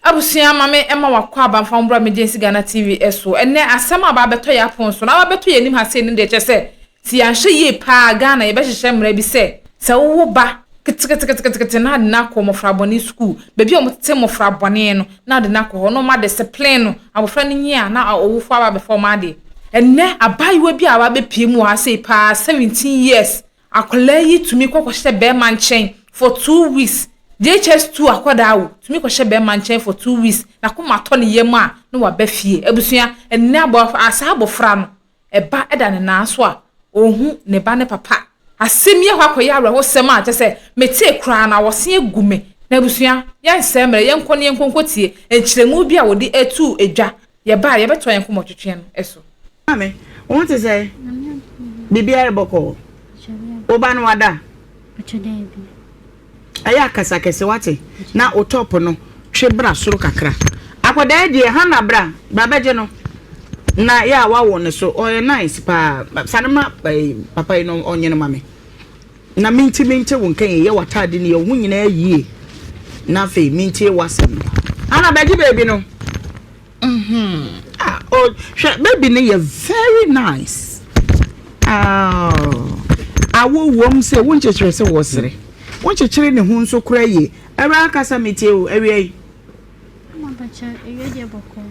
Abusua ma me ma w'akwaaba mfa wo mbra me gyensi Ghana TV so ɛnɛ asɛm a aba abɛtɔ yɛ apon so na aba abɛtɔ yɛ anim ha sei no deɛ kyerɛ sɛ sɛ yɛ anhwɛ yie paa Ghana yɛ bɛhyehyɛ mmra bi sɛ sɛ wo wo ba keteketeketekete na ade no akɔ mmɔfra bɔne sukuu baabi a wɔn tete mmɔfra bɔne no na ade no akɔ hɔ na wɔn adeseplen no abɔfra no nyi a na ɔwofoɔ aba abɛfa wɔn adeɛ ɛnɛ abaayewa bi a aba abɛpie mu wɔ ha sei paa 17 years Akwadaa yi tumi kɔ kɔhyɛ bɛɛma nkyɛn for two weeks, JHS two akwadaa o, tumi kɔhyɛ bɛɛma nkyɛn for two weeks, n'akoma atɔ ne yam a na waba fie. Abusua, ɛnnɛ abɔ a saa abɔfra no, ɛba da ne nan so a, ɔnhu ne ba ne papa. Asɛm yi akɔ akɔyɛ awerɛhosɛm a kyerɛ sɛ metee koraa no awɔse agu me. Na abusua, yɛnsɛe mmerɛ, yɛnkɔ na yɛnkɔ nkɔtie nkyerɛmu bi a wɔde atuu dwa Yɛba a, yɛbɛtoa yɛn nkɔmmɔtwetwe no so. Maame, wo ho te sɛn? Biribiara rebɔ kɔɔ. Wo ba no wada? Ɛyɛ akasa kɛse, wate? Na wo tɔpo no twe bra soro kakra. Akwadaa yi deɛ, Hannah bra, bra bɛgye no. Na yɛ a woawo ne so, ɔyɛ nice paa. Sane ma papa yi no ɔnye no ma me. Na mintumi nte wo nka yie. Yɛ w'ataade no, yɛ wo ho nyinaa yie na afei mentie w'asɛm no. Ana bɛgye baby no? Ah, oh, hwɛ, baby no yɛ very nice. Ah, awo wom sɛ wonkyekyere sɛ wɔsere. Wonkyekyere ne ho nso koraa yie. Awuraa kasa metie o, awia yi.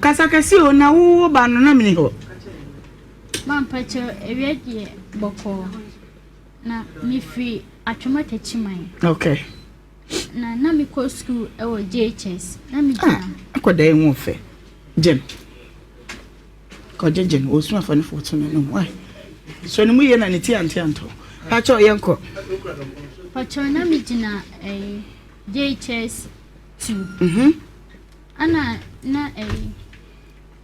Kasa kɛse o, na wo ba no na mene hɔ. Mampakyɛ awia deɛ bɔkɔɔ. Na mefiri Atwoma Takyiman. Okay. Na na mekɔ sukuu wɔ JHS. Na megyina. Ah, akɔda yi ho fɛ. Gyem. Kɔgye gyem. Wɔsu afa ne fo so no nom. Wai. So ne mu yie na ne ti ante anto. Pakyɛ ɔyɛ nkɔ. Pakyɛ na megyina ɛyi JHS 2. Mhm. Ana na ɛyi.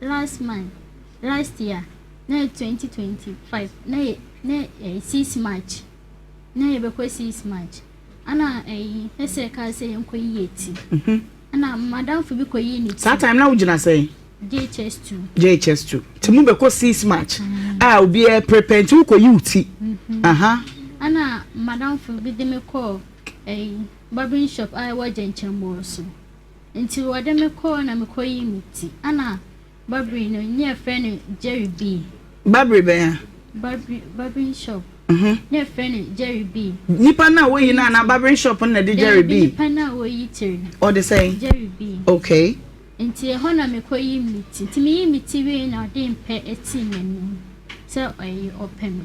Last month, last year na yɛ twenty twenty five na yɛ na ɛyɛ six march na yɛ bɛ kɔ six march ɛna ɛyi ɛsɛ kaa sɛ yɛn kɔ yie ti ɛna madamfo bi kɔ yie ne ti saa time na wogyina sɛn jhs two jhs two ti mu bɛ kɔ six march a obi ɛ prepare nti wokɔ yie ti aha ɛna madamfo bi de me kɔ ɛyi barbering shop a ɛwɔ gyɛnkyɛn bɔɔ so. Ntsi wɔde me kɔɔ na mekɔyii me ti. Ana Barbary no, nna yɛfrɛ no Jerry B. Barbary bɛn a? Barbary, Barbering Shop. Nna yɛfrɛ no Jerry B. Nyimpa no a woyi no anaa Barbering Shop no na de Jerry B? Dabi, nyimpa no a woyi tsir no. Ɔde sɛn? Jerry B. Okay. Ntsi hɔ na mekɔyii me ti. Ntsi meyii me ti wiei na ɔdee mpɛ tsii m'enyim dɛ ɔyɛ ɔpɛ me.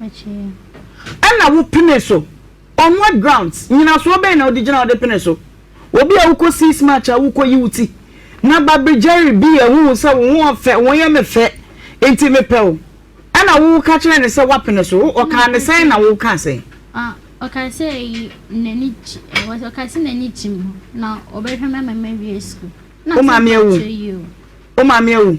Ɛna wo pene so. On what grounds? Nyinasoɔ bɛn na wode gyina a wode pene so? Obi a wokɔ sees match a wokɔ yi wo ti. Na Babri Jerry bi a wohu sɛ wo ho ɔfɛ, wo yɛ me fɛ, nti me pɛ wo. Ɛna wo ka kyerɛ no sɛ wapene so. Wo ɔkaa no sɛn na wo kaa sɛn? Ɔkaa sɛ eyi n'ani gye, ɔkaa sɛ n'ani gye me ho na ɔbɛhwɛ me ama mawie school. Wo maame awu? Wo maame awu?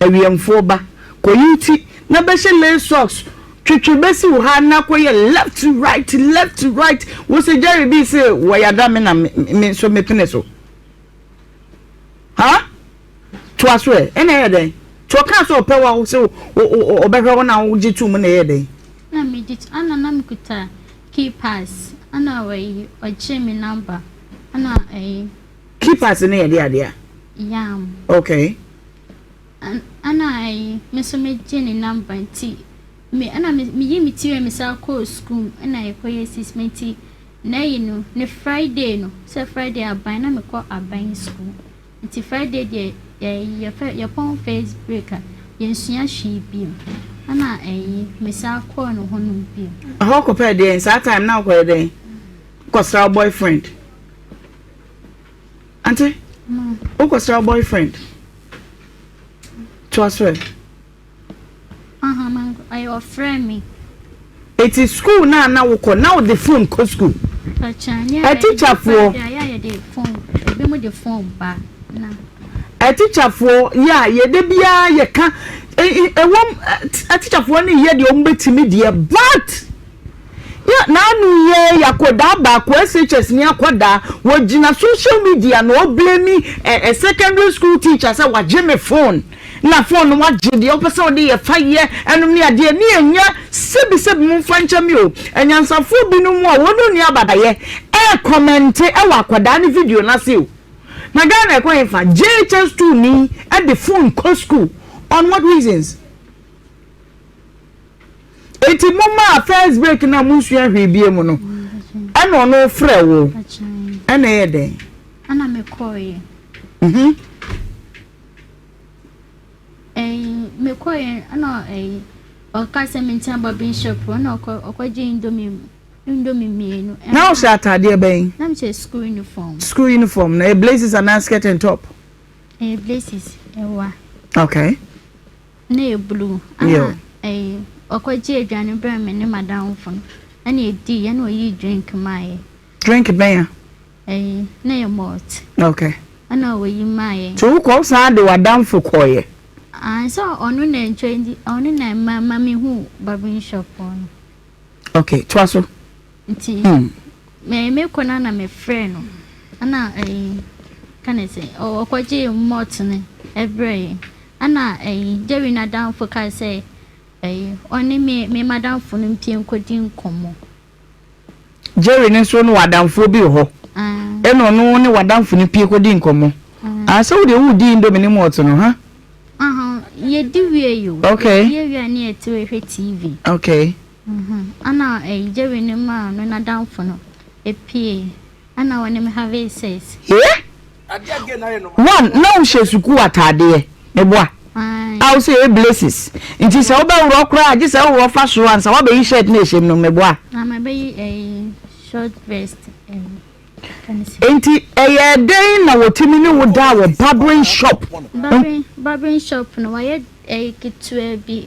Awiɛmfoɔ ba, kɔyi wo ti na bɛhyɛ lace socks, twetwe bɛsi wo ha na kɔyɛ left right left right, wo se Jerry Bee se wɔyada me na me nso me pene so? Haa? Toa so ɛ, ɛna ɛyɛ dɛn? Nti ɔkaa sɛ ɔpɛ wo a wo se ɔbɛhwɛ wo na wogye to mu na ɛyɛ dɛn? Na me gye to, ɛna na me kuta key pass, ɛna ɔyi ɔgyee me number, ɛna ɛyi Keepers no yɛ de adeɛ a. Yam. Okay. An ana ayi me nso me gye ne number nti me ana me me yi me ti wɛ me saa kɔɔ school mu ɛna yɛ kɔ yɛ sis me nti n'ayi no ne Friday no sɛ Friday aban na me kɔ aban school nti Friday deɛ yɛ yɛ fɛ yɛ pɔn face break a yɛ nsua hwee bio ɛna ayi me saa kɔɔ no hɔ nom bio. Ɛhɔ kɔ pɛ deɛ saa time na ɔkɔ yɛ dɛn kɔ sra boyfriend. Ante, wokɔ sra boyfriend? Toa so ɛ. Aha, man, ɔyɛ ɔfrɛ me. Eti school na na wokɔ na wode phone kɔ school? Ɛtikyafoɔ. Ɛtikyafoɔ yɛ a yɛde biara yɛka ɛwɔm ɛtikyafoɔ ne yɛ deɛ wɔn bɛtumi deɛ but. Yɛ n'ano yɛ akɔdaa baako SHS ni akɔdaa wɔ gyina social media na ɔ blame ɛ secondary school teacher sɛ wagye me phone na phone no wagye deɛ ɔpɛ sɛ ɔde yɛ fa yɛ ɛnom ne adeɛ ne ɛnyɛ sɛbi sɛbi mo mfa nkyɛ me o anyansafoɔ binom a wɔn ni abadayɛ ɛ kɔmɛnte ɛwɔ akɔdaa ne video no ase o na Ghana ɛkɔ he fa JHS 2 ni ɛde phone kɔ school on what reasons. Enti momma a first break no a monsua hwee bia mu no ɛna ɔno frɛ wo ɛna ɛyɛ dɛn? Ɛna mekɔeɛ. Mhm. Ɛyi mekɔeɛ ɛna ɛyi ɔka sɛ menkyɛn bɔ bishop ɛna ɔkɔ ɔkɔgye indomie mu indomie mmienu. Na ɔhyɛ ataadeɛ bɛn? Na mehyɛ school uniform. School uniform na ɛyɛ blazers anaa skirt and top? Ɛyɛ blazers ɛwa. Okay. na ɛyɛ blue ɛna ɛyi ɔkɔ gye aduane brɛ me ne madamfo no ɛna ɛdii ɛna ɔyii drink maayɛ. drink bɛn a? ɛyi na ɛyɛ malt. ok. ɛna ɔyi maayɛ. nti wokɔ wo san de w'adamfo kɔɔyɛ? ayi sɛ ɔno na ɛntwa nti ɔno na ɛma ma me hu barbering shop hɔ no. ok toa so. Nti me mekɔ no na mefrɛɛ no na ɛyi ka ne sɛ ɔkɔgyee malt no ɛbrɛɛ yɛn. Ɛna ɛyi Jerry n'adamfo kae sɛ ɛyi ɔne me me madamfo no mpie nkɔdi nkɔmmɔ. Jerry no nso ne w'adamfoɔ bi wɔ hɔ. Ɛna ɔno ne w'adamfo no pie kɔdi nkɔmmɔ. Ah sɛ wodeɛ wodi indomie ne malt no ha? Aha yɛdi wie yi o. Okay. Yɛdi wie a ne yɛte hɔ hwɛ TV. Okay. Ana Jerry no maa no n'adamfo no pue ana ɔne me have sex. Hee? One na wo hyɛ sukuu ataadeɛ me boa a wo sɛ ee blessings nti sɛ wo bɛ worɔ koraa a gye sɛ wo worɔ fa soro ansa wa bɛyi shirt na ɛhyɛ mu no me boa. Na ma bɛyi ɛyi short vest ɛyi ka ne si. Nti ɛyɛɛ dɛn na wɔ tumi ne wo daa wɔ barbering shop. Barbering shop no wayɛ ɛyi ketewa bi.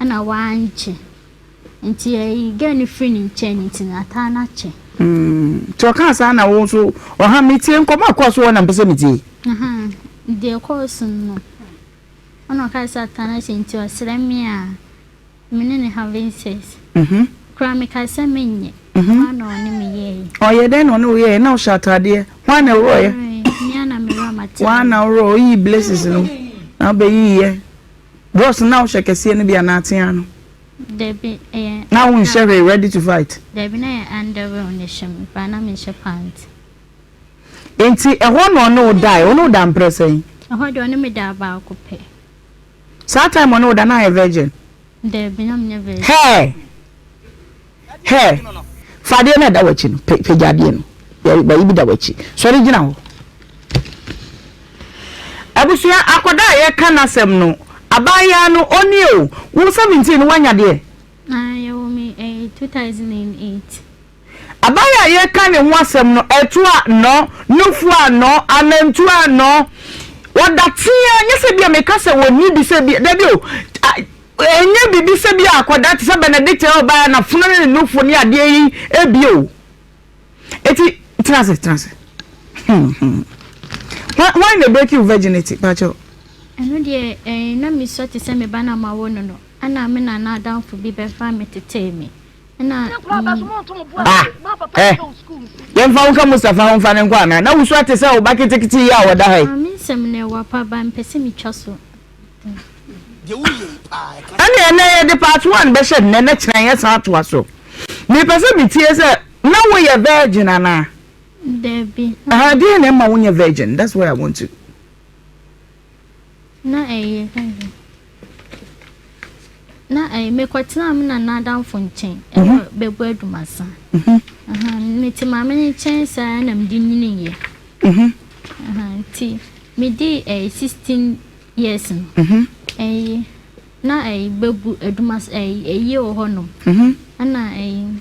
Ɛna wankyɛ nti yɛyi girl no firi ne nkyɛn nti n'ataa no akyɛ. Nti ɔkaa saa na wo nso ɔha metie nkɔmɔ a ɛkɔɔ so hɔ na mpɛ sɛ metie. Ahaa deɛ ɛkɔɔ so no ɛna ɔkaa sɛ ataa no akyɛ nti ɔsrɛ me a me ne no having sex koraa mekaa sɛ menyɛ hwan na ɔne me yɛɛyɛ. Ɔyɛ dɛn na ɔne wo yɛɛyɛ na wohyɛ ataadeɛ hwan na ɛworɔɔyɛ? Me a na me werɛ mataaɛ. Wo a na worɔɔ woyii blessings no na wobɛyiiɛ. Drugs no na wo hyɛ kɛseɛ no bi anaa teaa no? Dabi ɛyɛ. Na wo nhyɛ hwee ready to fight? Dabi na yɛ underwear na ɛhyɛ me paa na me nhyɛ pant. Nti ɛhɔ na ɔne wo daɛ ɔne wo da mprɛ sɛn? Ɛhɔ deɛ ɔne me daa baako pɛ. Saa time ɔne wo da na ayɛ virgin? Dabi na me nyɛ virgin. Hɛɛ! Her, Fa adeɛ no a ɛda w'akyi no, pagya adeɛ no. Bɛyi bi da w'akyi. Sɔre gyina hɔ. Abusua, akɔdaa a yɛka n'asɛm no, abaayaa no, ɔnnie o. Wo seventeen no, woanya deɛ? Na yɛwoo me ɛyɛ two thousand and eight. Abaayaa a yɛka ne ho asɛm no, ɛto anɔ, nufu anɔ, anantu anɔ. Ɔda teaa, nyɛ sɛ bi a meka sɛ ɔnni bi sɛ bi, dabi o. Ɛnyɛ biribi sɛ bi a akwadaa te sɛ Benedicta a ɔbaeɛ na fono ne ne nufo ne adeɛ yi abie o. Eti, tena ase, tena ase. Hwan hwan na break you virginity, pakyɛw? Ɛno deɛ eh, na mesua te sɛ me ba no a mawo no no, ɛna me nana adamfo bi bɛfaa me tetee me. Ɛna mm, Ah, ɛ, yɛmfa wo nka Mustafa ho mfa no nkɔ anaa? Na wusua te sɛ wo ba ketekete yi a ɔda ha yi. maame nsɛm no ɛwɔ apa ba, mepɛ sɛ metwa so. ɛneɛ nɛ yɛde part one bɛhyɛ nnɛ na kyena yɛsan atoa so mepɛ sɛ metie sɛ na woyɛ virgin anaa dabi ɛha deɛ na ɛma wonyɛ virgin that's why i want to na ɛyɛ Na eh, mekɔtenaa me nana adamfo nkyɛn wɔ mhm. Bɛgu Adumasan. Mhm. Mete maame no nkyɛn saa na mede nyiniiɛ. Mhm. Nti medii ɛyɛ eh, sixteen years no. Ɛyi na ɛyi eh, Bɛgu Adumasan ɛyi ɛyi wɔ hɔ nom. Ɛna ɛyi.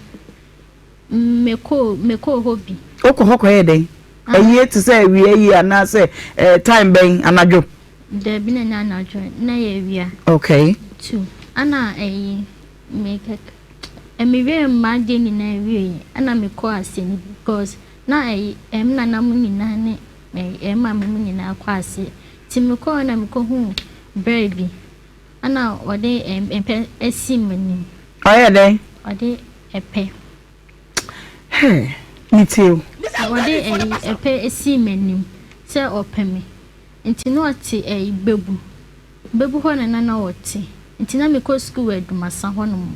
Mekɔɔ hɔ bi. Wokɔ hɔ kɔyɛ dɛn? Ayie te sɛ awia ayie anaasɛ time bɛn? Anadwo? Daabi na ɛnyɛ anadwo, na ɛyɛ awia. Okay. Two, ɛna ayi, mewie m'adeɛ nyinaa wieeɛ ɛna mekɔɔ ase no bi because na ayi, me nana mo nyinaa ne me maame mo nyinaa kɔ aseɛ. Nti mekɔɔ na mekɔhuu brɛ bi. Ɛna ɔde ɛpɛ asi m'anim. Ɔyɛ dɛn? Ɔde ɛpɛ. Hɛ, metie o. Ɔde ɛyi ɛpɛ asi m'anim sɛ ɔpɛ me. Nti na ɔte ɛyi Gbebu. Gbebu hɔ na na na ɔte. Nti na mekɔ sukuu wɔ Adumasa hɔnom.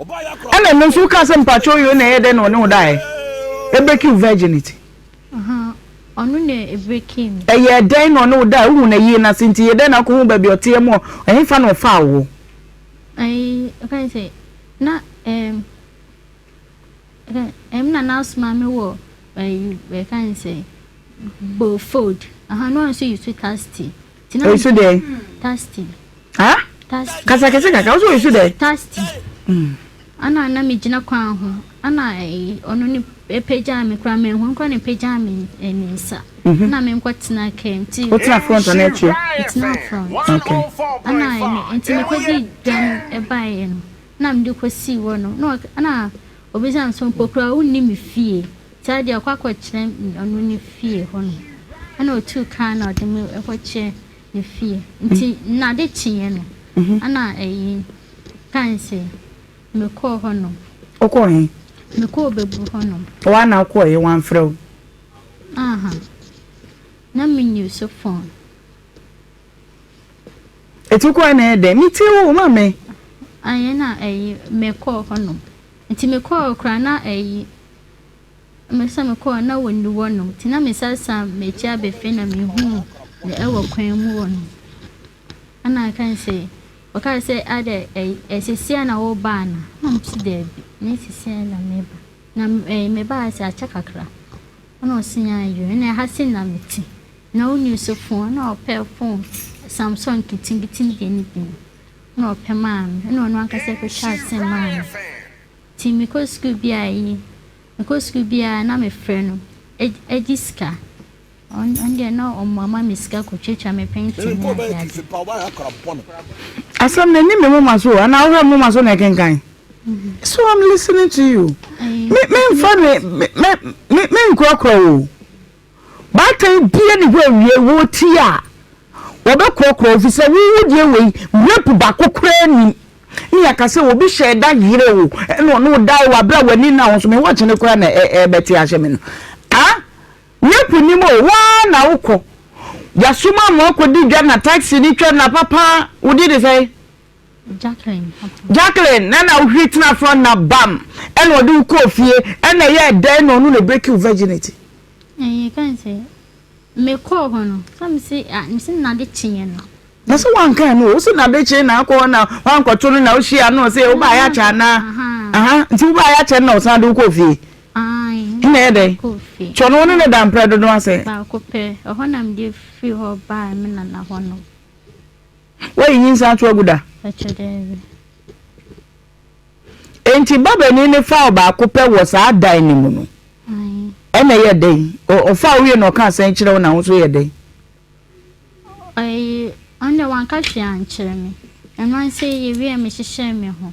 Ɛna ɛno nso woka sɛ mpakyɛw yoo na ɛyɛ dɛn na ɔne wo daeɛ? Ɛbreaki wo virginity. Ɔno na ɛbreaki me. Ɛyɛɛ dɛn na ɔne wo daeɛ? Wohu no yie no ase nti yɛ dɛn na wokɔhu baabi a ɔteɛ mu ɛhefa na ɔfaa wo hɔ? Ayi ɔka ne sɛ na ɛɛm ɛm na n'asoma me wɔ ɛyi ɛka ne sɛ Beaufort aha na ɔno nso yi sweetheart tea. Oyisu dɛ? Tasty. Ha? Tasty. Kasa kɛse kakra, ɔsɛ oyisu dɛ? Tasty. Mm. Ana na megyina kwan ho, ana ɔno ne ɛpagyaa me koraa, manhunu koraa na ɛpagyaa me eh, ne nsa. Mhm. Ana menkɔtena kaa mu nti. Wotena front anaa akyire? Metena front. Okay. Ana ɛne, nti mekɔdii dwa no ɛbaeɛ no, na mede kɔsii hɔ no, na ɔka, na Obisa nso mpo koraa a, wonni me fie. Saa deɛ ɔkɔ akɔkyerɛ ɔno ne fie hɔ no, ɛna ɔtuu kar na ɔde me kɔkyerɛ ne fie. Nti na ade kyeeɛ no, ɛna ɛyi kae sɛ mekɔɔ hɔ nom. Wokɔɔ he? Mekɔɔ Obebu hɔ nom. Woa na wokɔɔeɛ, wamfrɛ wo? Aha, na menni so phone. Ɛtu kɔ a na ɛyɛ dɛn? Metie wo o, ma me. Ayɛ na ayi, mekɔɔ hɔnom. Nti mekɔɔ koraa na ayi, me sɛ mekɔɔ na wɔnni hɔnom. Nti na mesan san m'akyi aba fie na mehuu no ɛwɔ kwan mu hɔ nom. Ɛna aka no sɛ, ɔkaa sɛ adɛ ayi, ɛsisiɛ na wobaa no? Ɛna me se daabi, nyɛ sisiɛ na meba. Na ayi, mebaa sɛ akyɛ kakra. Ɛna ɔse ayi o, ɛna ɛha se na mete. Na ɔnni so fon, ɛna ɔpɛ fon Samsung nkitinkitini deɛ no bi, ɛna ɔpɛ maa me, ɛna ɔno ankasa kɔtwaa sim maa me, nti mekɔ sukuu biara ayi, mekɔ sukuu biara na mefrɛ no, ɛgye sika, ɔno deɛ na ɔmmoa ma me sika kɔtwatwa me pɛnti ne adeade. Asɛm no ɛnni me moma so o, anaa wohwɛ me moma so na ɛkenkan? So I'm listening to you, me menfa me, me, me, me, menkurakura wo o. Baatan deɛ ne hɔ awiei wɔ ti a wɔbɛkorɔkorɔ wo fisɛ wo wo deɛ wei rape baako koraa nim ne yɛaka sɛ obi hyɛɛ da yere wo ɛna ɔne wo dae wɔ abere a w'ani na wo so me watch ne koraa na ɛbɛte ahyɛ me no ah rape nim o waa na wokɔ yasoma mo akɔdi dwa na taxi ne twa na papa wode de sɛ Jacqueline na na wohwiri tena front na bam ɛna ɔde wo kɔɔ fie ɛna ɛyɛɛ dɛn na ɔno na ɛbreaki wo virginity? Ɛyɛ kan sɛ mekɔɔ hɔ no sɛ mese ah mese nade kyeeɛ no. Na sɛ wanka ɛno o sɛ nade kyee na akɔ hɔ na wankɔto no na wohyia no sɛ wobaeɛ akyɛ anaa aha nti wobaeɛ akyɛ no na ɔsan de wo kɔɔ fie ɛna ɛyɛ dɛn kyɛ ɔno wo ne ne da mprɛ dodo asɛ baako pɛ ɛhɔ na mede firi hɔ baa me nana hɔ no Woayi nyinsɛn ato agu da? Ɛkyɛ daabi. Enti babanin no faa ɔbaako pɛ wɔ saa dan no mu no, ɛna ɛyɛ dɛn? Ɔfaa owie na ɔka asɛn kyerɛ wo na wo nso yɛ dɛn? Ɛyi, ɔno deɛ wanka hwee ankyerɛ me. Ɛno ara sɛ yɛwie a mehyehyɛɛ me ho.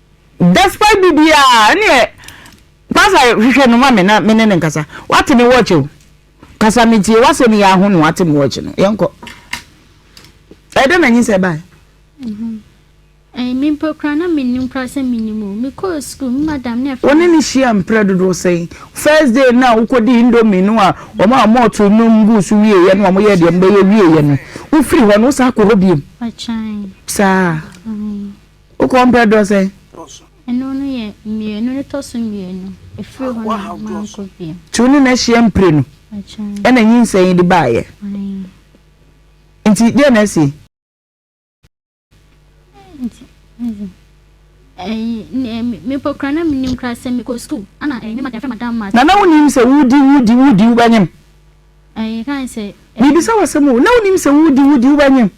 Despite biribiara ɛneɛ Pastor hwehwɛ no ma me na me ne no nkasa. Wate me watch o. Kasa me tie w'asɛm yi aho na wate me watch no. Yɛnkɔ. Ɛdɛ na nyinsɛ bae. Mhm. Eh, me mpo kura na me nim kura sɛ me nim o. Me kɔ school, me madam na ɛfɛ. Wo ne ne hyia mprɛ dodoɔ sɛn? First day na wokɔ di indomie no a, wɔn a wɔn to no mbu so wie yɛ no, wɔn yɛ deɛ mbɛyɛ wie yɛ no. Wofiri hɔ no, wosan kɔ hɔ biem. Ɔkyɛn. Saa. Mm. Wo kɔn brɛ dɔ sɛn? Ɛno no yɛ mmienu no tɔ so mmienu, ɛfiri hɔ na mankɔ bio. Nti wo ne no ahyia mprenu ɛna nyinsɛn yi de baeɛ? Nti deɛ na asi? Nti ɛyi ɛyi mepɔ kura na menim kura sɛ mekɔ sukuu ana ɛyi ne madam fɛ madam ma. Na na wonim sɛ wodi wodi wodi wobɛnyem? Ɛyi kan sɛ. Mebisa wo asɛm o, na wonim sɛ wodi wodi wobɛnyem?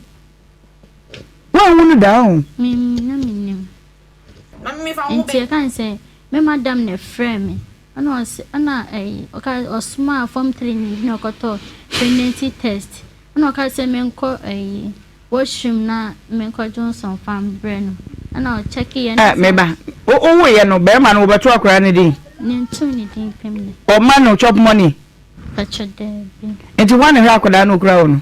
Woanhu no da o. Mim na menim. Nti ɛka ne sɛ me madam na ɛfrɛɛ me ɛna ɔse ɛna ɛyi ɔka ɔsomaa form three ni bi na ɔkɔtɔ pregnancy test ɛna ɔka sɛ menkɔ ɛyi washroom na menkɔ Johnson fa mbrɛ no ɛna ɔkyɛke yɛ na. Ɛ meba wowo yɛ no bɛrima no wɔbɛto akora ne din. Ne nto ne din pɛm na. Ɔma no chop money. Patro daabi. Nti hwan na ɛhwɛ akɔdaa no okura hɔ no.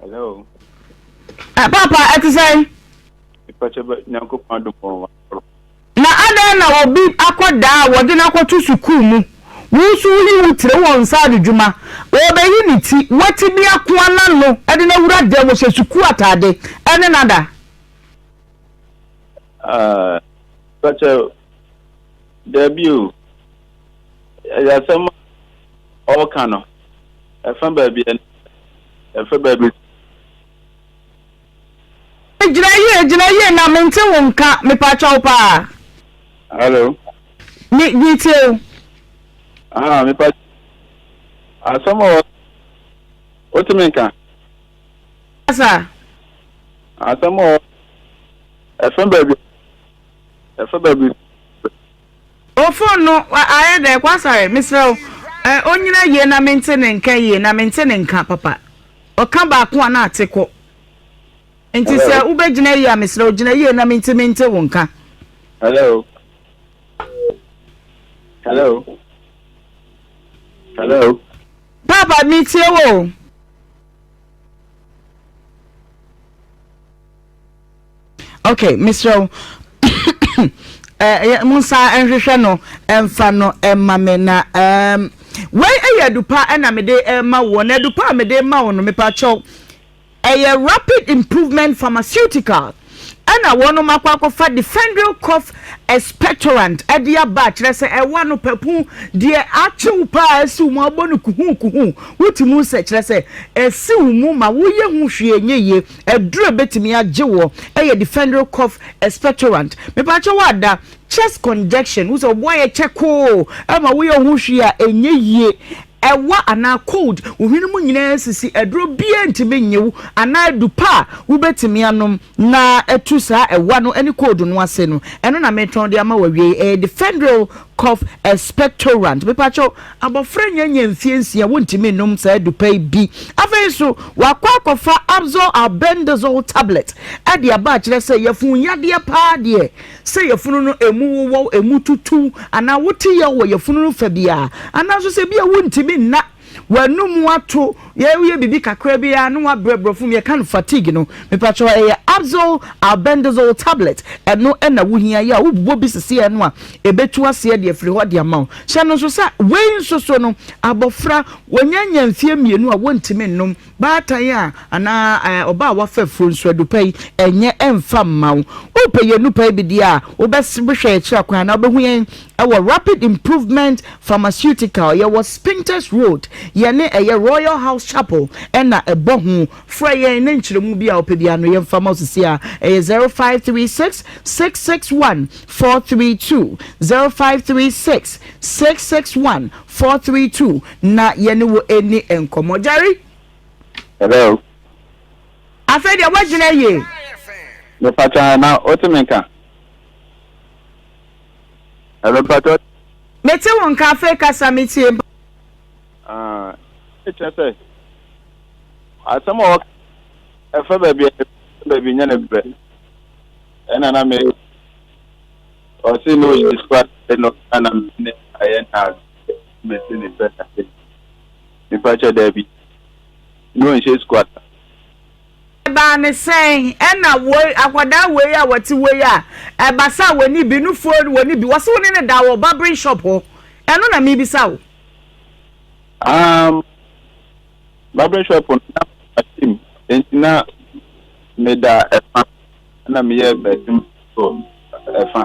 Hello. Ɛ papa ɛte sɛn? Mepakyɛ bɛ Nyankopɔn adom wɔn wɔn akɔrɔ. Na adɛn na obi akɔdaa a wɔde no akɔto sukuu mu, wo nso woyi wo tire wɔ nsa ano dwuma, ɔrebɛyi ne ti, wo tebea ko ara na no de no awura dan mu, ɔhyɛ sukuu atade, ɛne no ada? Ah, mepakyɛ daabi o. Ɛyɛ asɛm a ɔreka no, ɛfa baabi a ɛfa baabi. Gyina yie, gyina yie na mente wo nka, mepatwa wo paa. Hello. Me, metie wo. Aha, mepatwa. Asɛm a wotumi nka. Asa. Asɛm a ɛfa baabi, ɛfa baabi. O phone no ayɛ dɛ kwasare mesrɛ wo eh onyina yie na mente ne nka yie na mente ne nka papa ɔka baako a na ate kɔ nti Hello. sɛ wobɛgyina yie a mesrɛ wo gyina yie na mente mente wo nka. Hello. Hello. Hello. Papa metie wo. Ok mesrɛ wo eh, monsa nhwehwɛ no ɛmfa no ɛma me na um, wei ɛyɛ adupa ɛna mede ɛma woɔ na adupa a mede ma wo no mepakyɛw ɛyɛ rapid improvement pharmaceutical ɛna wɔnom akɔ akɔfa defendral cough expectorant ɛde aba akyerɛ sɛ ɛwa no papu deɛ akyew paa asiw mu abɔ no kuhu kuhu wotumi sɛ kyerɛ sɛ asiw mu ma woyɛ ho hwee nyɛ yie Aduru a ebetumi agye wo yɛ Difenryl cough expectorant. Mepakyɛ woada chest conjection, wohu sɛ wo bo ayɛ kyɛkoo ma woyɛ wo ho hwee a ɛnyɛ yie, ɛwa anaa cold, wo hwene mu nyinaa resisi, aduro biara ntumi nnye wo anaa adu pa a wobetumi anom na atu saa ɛwa no ne cold no ase no, ɛno na meretɔn de ama wo awiei, ɛyɛ Difenryl Cough Expectorant, Mepakyɛw, abofra nnya nyɛ mfie nsia, wontumi nnom saa adupa yi bi. Afei nso, wakɔ akɔfa Absor Albendazole Tablet de aba akyerɛ sɛ yafunu yadeɛ paa deɛ, sɛ yafunu no emu wowɔw, emu tutuw, anaa wote yaw wɔ yafunu no fa biara, anaa nso sɛ ebia wontumi nna. w'anum ato, yɛ woyɛ biribi kakra bi a na w'abrɛ brɔfo mu yɛka no fatigue no mepakyɛw ɛyɛ Abzal albendazole tablet ɛno na wohia yɛ a wobobɔ bi sisi ɛno a ɛbɛtu aseɛ de afiri hɔ de ama wo hyɛ no nso sɛ wei nso so no abɔfra wɔnya nya mfeɛ mmienu a wɔntumi nnom Baatan a, anaa ɛɛ ɔbaa a wafa afuo nso, adu pa yi nyɛ mfa mma wo. Wopɛ yɛn nnurpa yi bi deɛ a, wobɛhwɛ yɛn akyiri kwan anaa wobɛhu yɛn wɔ Rapid Improvement Pharmaceutical, yɛwɔ Spintex Road, yɛne ɛyɛ Royal House Chapel na ɛbɔ ho. Frɛ yɛn na nkyerɛmu bi a wopɛ biara no yɛmfa mma wo seesei ara, ɛyɛ zero five three six, six six one, four three two, zero five three six, six six one, Four three two na yɛne wo ɛni nkɔmɔ Jerry. Hello. Afei deɛ woagyina yie. Mepatwa na wote me nka. Hello mpatwa. Mete wo nka afei kasa metie mpa. Ah, ɛkyɛ sɛ asɛm a wɔka ɛfa baabi a baabi nyɛ ne brɛ ɛna na me Ɔse na ɔyɛ sukuu ade no na na me ne no ayɛ nnansa nti mese ne sɛ dabi mepakyɛ dabi na ɔnhyɛ sukuu ataadeɛ. Ɛbaa ne sɛn? Ɛna woi akwadaa woi a wɔte woi a ɛba sɛ wɔne bi no phone wɔne bi wɔse wo ne no da wɔ barbering shop hɔ ɛno na mebisa wo. Amm barbering shop no na mate mu nti na meda ɛfa na meyɛ m'adwuma so. ɛfa.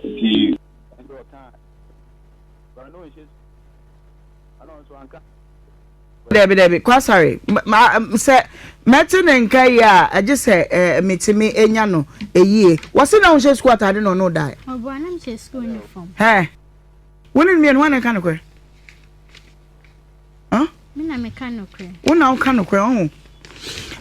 Nti. Ɛnde ɔka a Kwame no nhyɛ su ana ɔnso anka. Dabi dabi kwasare ma sɛ mɛte ne nka yi a ɛgye sɛ ɛɛ metumi enya no eyie wɔsi na ɔnhyɛ sukuu ataade na ɔno dae. Ɔbɔ anam hyɛ sukuu uniform. Hɛ. Wone ne mmienu hɔ na ɛka no korɛ. Huh? Me na meka nokorɛ. Wo na woka nokorɛ ɔho.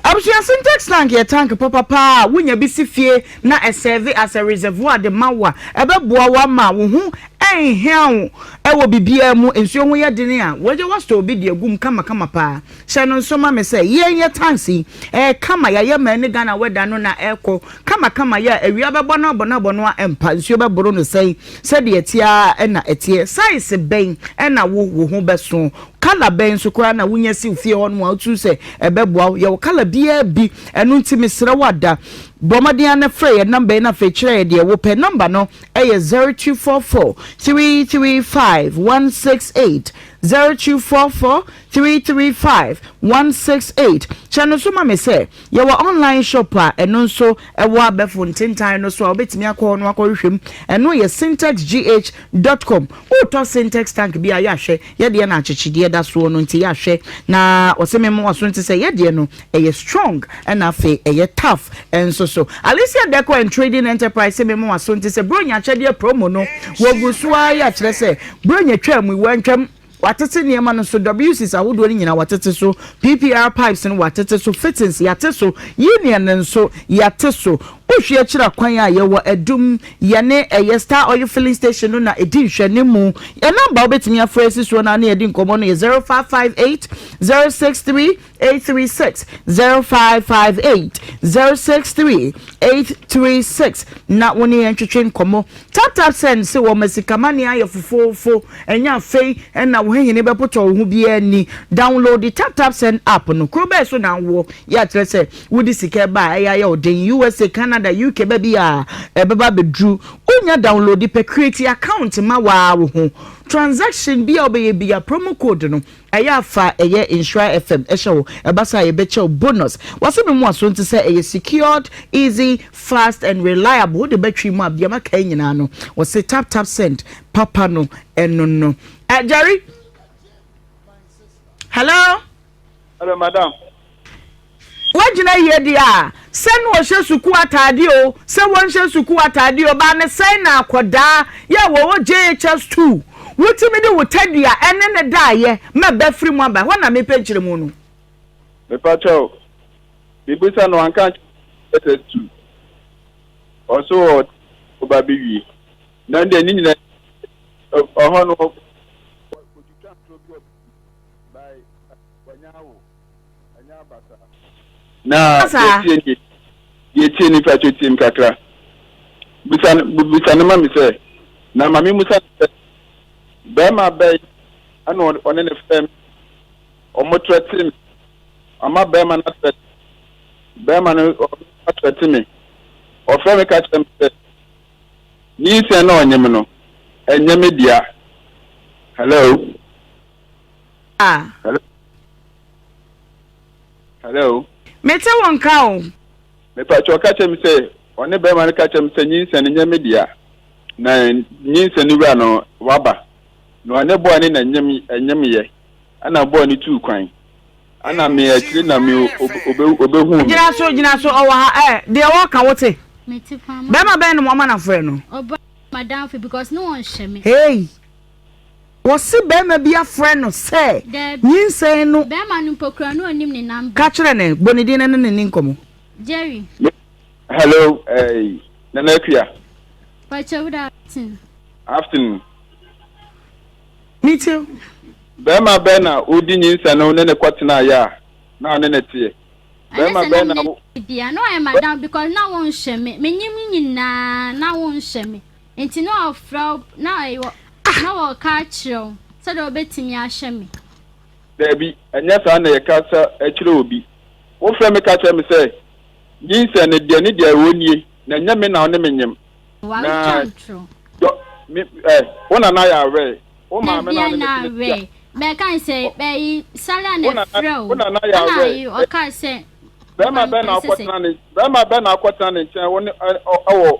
Abusua Sintex tank yɛ tank papa paa a wonya bi si fie na ɛsɛve as a reservoir de ma wo a ɛbɛboa wo ama wo ho ɛnhia wo ɛwɔ biribiara mu. Nsuo ho yɛ dene a wagya wastore obi de agu mu kamakama paa. Hyɛ no nso ma me sɛ yɛn yɛ tanks yi ɛyɛ kama yɛayɛ ma ɛne Ghana weather no na ɛkɔ kamakama yɛ a awia bɛbɔ no abɔ no abɔ no a ɛmpa nsuo bɛboro no sɛn Sɛdeɛ ɛteɛ ara na ɛteɛ. Size bɛn na wo wo ho bɛso? Colour bɛn nso koraa na wonya siw fie hɔ nom a woturu sɛ ɛbɛboa wo? Yɛwɔ colour biara bi. Ɛno nti mesrɛ wo ada, bɔ mmɔden ara na frɛ yɛn number yi na afei kyerɛ yɛn deɛ wopɛ. Number no yɛ zero two four four three three five one six eight, zero two four four three three five one six eight. Kyɛ no nso ma me sɛ. Yɛwɔ online shop a ɛno nso ɛwɔ abɛfo ntentan no so a wobɛtumi akɔ hɔ no akɔhwehwɛ mu. Ɛno yɛ syntexgh dot com. Woretɔ Syntex tank bi a, yɛ ahwɛ. Yɛ deɛ na akyekyedeɛ da soɔ no nti yɛ ahwɛ na wɔse memmoa so nti sɛ yɛ deɛ no ɛyɛ strong ɛna afei ɛyɛ tough nso so. Alicia Decor and Trading Enterprise se memmoa so nti sɛ Buronya akyɛdeɛ promo no wɔgu so ara yɛ akyerɛ sɛ Buronya twaa mu, wɔantwam. Wɔatete nneɛma no so, WCs ahodoɔ no nyinaa wɔatete so, PPR pipes no wɔatete so, fittings yɛate so, union no nso yɛate so. Wohwɛ akyiri a, kwan a yɛwɔ adum, yɛne ɛyɛ Star Oil Filling Station no na ɛdi nhwɛanimu. Yɛn nɔmba a wobɛtumi afrɛ asi soɔ no ara ne yɛde nkɔmmɔ no yɛ zero five five eight zero six three eight three six zero five five eight zero six three eight three six na wo ne yɛn ntwetwe nkɔmɔ tap tap send se wɔn ma sikamani ayɛ fofoofo ɛnyɛ afei ɛna wo hehene bɛpotɔ wo ho biara ni download the tap tap send app no kuro bɛɛ so na awoɔ yɛ akyerɛ sɛ wode sika ɛba a ɛyɛ ayɛ wo den usa canada uk baabi a ɛbɛba bɛduru wonya download pɛ create account ma waa wo ho transaction bi a wobɛyɛ bi a promo code no Ɛyɛ a fa ɛyɛ nhyira fm hyɛ wo ɛba saa a yɛbɛkyɛ wo bonus. Wase me mua so nti sɛ ɛyɛ secured, easy, fast and reliable wode bɛtwe mu a bia makae nyinaa no wɔse tap tap send papa no ɛno no. Jerry hello. Hello madam. Woagyina yie deɛ a, sɛ na wɔhyɛ sukuu ataadeɛ oo, sɛ wɔnhyɛ sukuu ataadeɛ oo, baa ne sɛn na akwadaa yi a wɔwɔ JHS two, wotumi de wo tadua ne ne daeɛ ma ba firi mu aba? Ɛhɔ na mepɛ nkyerɛmu no. Mepa kyɛw, mebisa no wanka ankyerɛ JHS two, ɔso wɔ ɔba bi wie, na deɛ ne nyina ɔhɔ no, wɔtwitwa ntorɔ bi wɔ baabi, by wanya awo. Na yɛtie nie, yɛtie nie fa kyɛ tiem kakra. Bisa no, bisa no ma me sɛ, na ma me musa no sɛ, bɛɛma bɛn ɛna ɔne ne fɛm, ɔmo trɛte me, ɔma bɛɛma no atrɛte, bɛɛma no atrɛte me, ɔfrɛ me ka kyerɛ me sɛ, nyinsɛn na ɔnye me no, ɛnyɛ me dea. Hello? Ah. Hello. Hello. Mete wo nka o. Mepatwa ɔka kyerɛ me sɛ ɔne bɛrima no ka kyerɛ me sɛ nyinsɛn no nyɛ me dea na nyinsɛn no wura no waba na ɔne bɔɔ ne na nyem ɛnyem yɛ ɛna bɔɔ ne tuu kwan ɛna me akyire na me obehu me. gyina so gyina so ɔwɔ ha ɛ eh, deɛ wɔka wo te bɛrima bɛn no mo ɔma na frɛ no. ɔba madamfo because ne wɔn hyɛ me. hey. Wɔse barima bi afrɛ no sɛ nyinsɛn no. Barima no mpo kura no ɔnim ne number. Ka kyerɛ no, bɔ ne din na ne ne nni nkɔmmɔ. Jerry. Hello eh, Nana Akua. Pacho good afternoon. Afternoon. Metie wo. Barima bɛn na odi nyinsɛn no ne ne kɔtenaeɛ a na ɔne ne teɛ? Barima bɛn na wo. Bia na ɔyɛ madam because na wonhwɛ me, menyim nyinaa na wonhwɛ me. Enti na wɔfrɛ wo na wɔ, na wɔka akyerɛ wo sɛdeɛ wobɛtumi ahwɛ me. Daabi, ɛnyɛ saa na yɛkasa kyerɛ obi. Wofrɛ me ka kyerɛ me sɛ, Nyinsɛn no, deɛ ne deɛ ɛwɔ nie, na ɛnyɛ me na wo ne me nyem. Na dɔ, me, ɛ, wo nana yɛ awɛɛ, wo maame na ɔne me tena fie a. Bɛka ne sɛ, ɛyi, Sala na ɛfrɛ wo. Ɛna ayi, ɔkaa sɛ. Barima bɛn na wokɔtena ne, barima bɛn na wokɔtena ne nkyɛn, wo ne, ɛ, ɔ, wɔ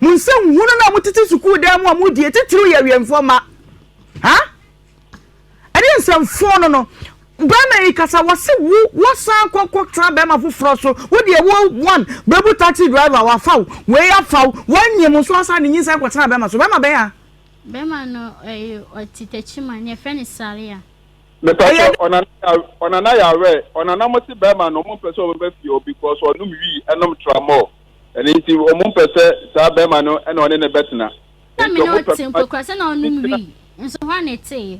Mo nsa nhu no na motete sukuu dan mu a modie titiriw yɛ awiɛmfoɔ mma. Ha? Ɛne nsɛmfoɔ no no. Bɛrima yi kasa wɔse wo wɔsan kɔ kɔtra bɛrima foforɔ so wo deɛ wo one bɛbu taxi driver wafa wo wei afa wo wanyim wo nso asan de nyinsɛn kɔtena bɛrima so bɛrima bɛn a. Bɛrima no ɛyɛ ɔte Techiman ne ɛfrɛ no Saria. Mepatɔ ɔnana ɔnana yɛ awɛ ɔnana mo se bɛrima no ɔmo mpɛ sɛ ɔbɛba fie hɔ because ɔnom wii ɛnom tramɔl. Ɛno nti, wɔmpɛ sɛ saa barima no na ɔne no bɛtena. Na me ne wo te nkokurase na wonom wii nso hwan na eteeɛ?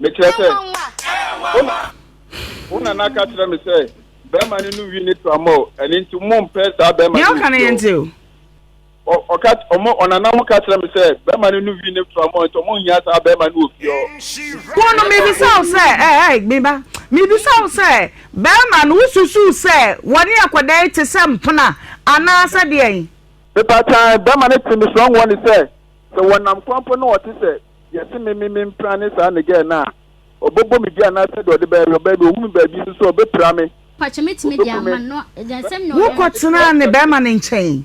Mekyerɛ sɛ, wo na, wo na na ka kyerɛ me sɛ barima no nom wii ne to ama o, ɛno nti mompɛ saa barima no nsuo. Nea ɔka no yɛ nte o. Ɔ, ɔka, ɔmo, ɔnana ho ka kyerɛ me sɛ, bɛɛma no nnu wii ne mfra mu ɔ, nti ɔmo nhia saa bɛɛma no wɔ fie ɔ. Wo no, mebisa wo sɛ, ɛ, ɛ, me ba, mebisa wo sɛ, bɛɛma no, wo susuu sɛ wɔne akɔdɛɛ te sɛ mpena, anaa sɛ deɛn? Me ba, tan, bɛɛma no te me sua nwoɔ ne sɛ, sɛ wɔnam kwan mpo na ɔte sɛ, deɛ se me, me, me mpena ne saa ne gɛɛ no a, ɔbɛbɔ me dua anaa sɛdeɛ ɔde bɛɛ, ɔbɛɛ me, ɔhu me baabi nso so a, ɔbɛpira me, ɔbɛku me. Wo kɔ tenaa ne bɛɛma no nkyɛn?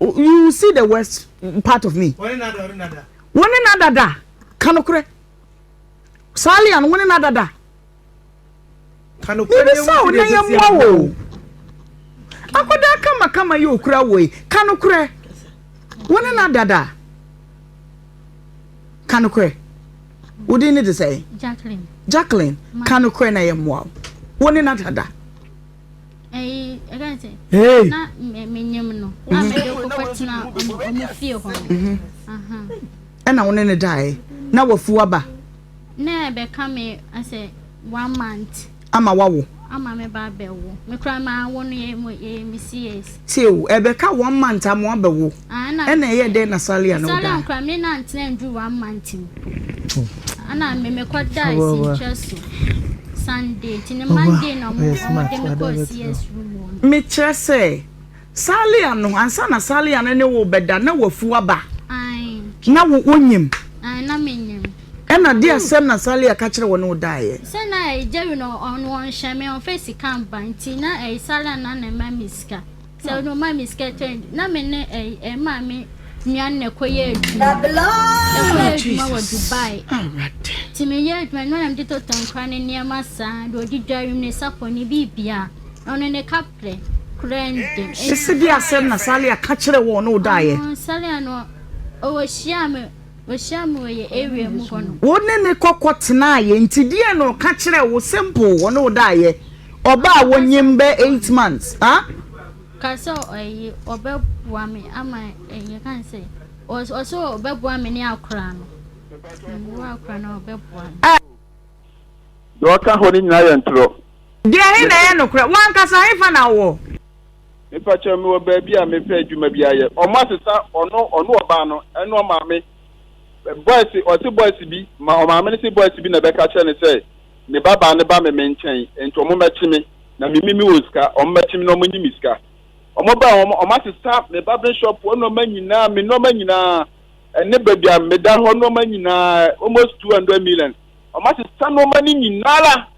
you see the worst part of me wɔne na dada ka nokorɛ saa lian wɔne na dada bibisa wo na yɛmmoa wo akɔdaa kamakama yɛ okura wo yi ka nokorɛ wɔne na dada ka nokorɛ wodin ne de sɛ jacqueline ka nokorɛ na yɛmmoa wo wɔne na dada Hey. na menyem no a mhm. mede kɔkɔ tena ɔmo fie hɔ no mhm. ɛna wo ne ne daeɛ na wafu aba na ɛbɛka me asɛ one month ama wawo ama me ba bɛwo mekora ma awo no yɛ yɛ me cs. tie o ɛbɛka one month ama wabɛwo Ɛna ɛyɛ dɛn na Salia na ɔdae? Mekyerɛ sɛ, Salia no, ansa na Salia no ne wo rebɛda, na wafu aba. Na wo, wunim? Ɛna deɛ asɛm na Salia ka kyerɛ wo na ɔdaeɛ? Sɛ no ma me sika change na me ne ɛyi eh, ɛma me nua no na ɛkɔyɛ adwuma ɛkɔyɛ adwuma wɔ Dubai nti meyɛ adwuma ɛno na mede totɔ nkora ne nneɛma saa de ɔde dware mu ne sapɔ ne biribia ɔno ne kaprɛ kora ndem ɛsɛ bi asɛm na Salia ka kyerɛ wɔn na ɔdaeɛ Salia no ɔwɔ hyia me Ɔhyiaa me wɔ yɛn area mu hɔ no. Wo ne ne kɔ kɔ tenaeɛ nti deɛn na ɔka kyerɛɛ wo simple ɔne wo daeɛ ɔba a wonyim bɛ eight months ah. Ɔka sɛ ɔye ɔbɛboa me ama yɛka ne sɛ ɔse ɔbɛboa me ne akora no mewɔ akora no a ɔbɛboa me. Ah. Deɛ ɔka hɔ no nyinaa yɛ ntorɔ. Deɛ he na ɛyɛ nokorɛ? Wankasa hefa na ɔwɔ? Mepakyɛw mewɔ baabi a mepɛ adwuma bi ayɛ ɔmo asesa ɔno ɔno ɔbaa no ɛne ɔmaame boys ɔse boys bi ma ɔmaame no se boys bi na ɛbɛka kyerɛ no sɛ ne ba baa no ba me me nkyɛn nti ɔmo mɛkye me na me me me wɔ sika ɔmo mɛkye me na ɔmo nyi me sika ɔmo baa ɔmo ɔmo asesa me ba me shop hɔ nneɛma nyinaa me nneɛma nyinaa ɛne baabi a meda hɔ nneɛma nyinaa almost two hundred million ɔmo asesa nneɛma no nyinaa la.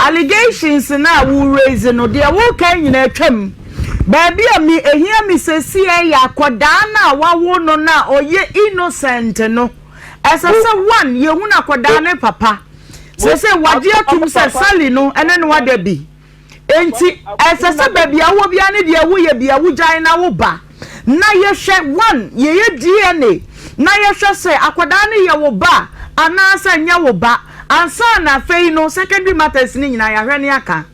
Allegations no a wo raise no, deɛ wo kan nyinaa atwa mu. Baabi a me ɛhia me sɛsiɛ yɛ akɔdaa no a wawo no no a ɔyɛ innocent no. Ɛsɛ sɛ one, yɛ hunu akɔdaa no papa. Sɛsɛ wagye atum sɛ Sally no ɛne no ada bi. Ɛnti ɛsɛ sɛ baabi a wowɔ biara no deɛ wo yɛ bia wo gyae na wo ba. na yɛhwɛ one yɛyɛ DNA na yɛhwɛ sɛ akwadaa no yɛ wo ba anaasɛ nyɛ wo ba ansa na afei no secondary matters no nyinaa yɛahwɛ ne aka.